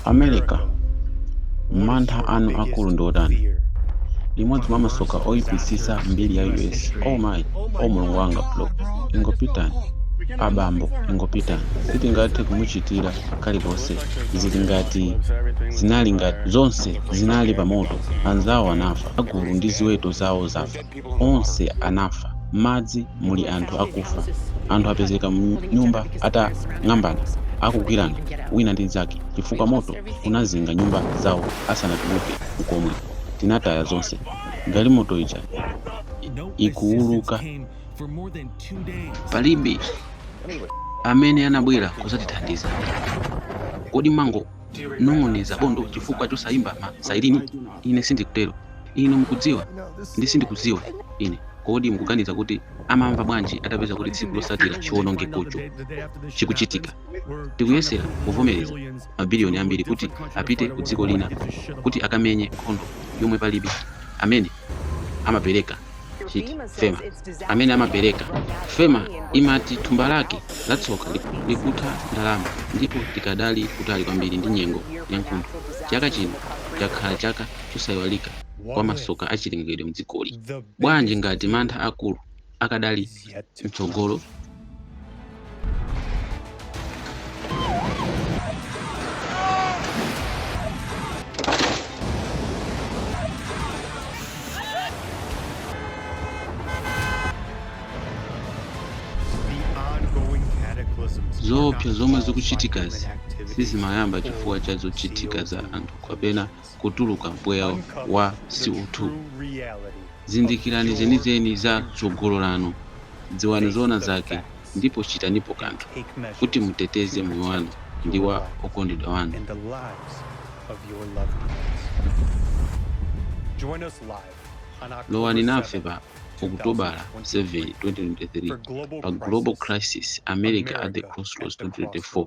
America, mantha anu akulu ndi otani? Limodzi mwa masoka oipitsitsa mbiri ya US. Oh my, oh mulungu wanga bro, ingopitani, abambo ingopitani sitingathe kumuchitira kalikonse zili ngati zinali ngati zonse zinali pamoto anzawo anafa agulu ndi ziweto zawo zafa onse anafa. M'madzi muli anthu akufa. Anthu apezeka m'nyumba atang'ambana, akugwirana wina ndi mnzake chifukwa moto unazinga nyumba zawo asanatuluke n'komwe. Tinataya zonse. Galimoto ija ikuuluka. Palibe amene anabwera kudzatithandiza. Kodi mwango- nong'oneza bondo chifukwa chosayimba ma sairini? Ine sindikutero. Inu mukudziwa, ndi sindikudziwa ine. Kodi mukuganiza kuti amamva bwanji atapeza kuti tsiku lotsatira chiwonongekocho chikuchitika? Tikuyesera kuvomereza mabiliyoni ambiri kuti apite ku dziko lina kuti akamenye nkhondo yomwe palibe amene amapereka. chiti fema amene amapereka fema imati thumba lake la tsoka likutha ndalama ndipo tikadali kutali kwambiri ndi nyengo ya nkuntho chaka chino chakhala chaka chosayiwalika kwa masoka achilengedwe mdzikoli bwanji ngati mantha akulu akadali mtsogolo zoopsa zomwe zikuchitikazi sizimayamba chifukwa cha zochitika za anthu kapena kutuluka mpweya wa CO2. Zindikirani zenizeni za tsogolo lanu, dziwani zoona zake, ndipo chitanipo kanthu kuti muteteze moyo wanu ndi wa okondedwa wanu. Lowani nafe pa Okutobala 7, 2023, pa Global Crisis, America at the Crossroads 2024.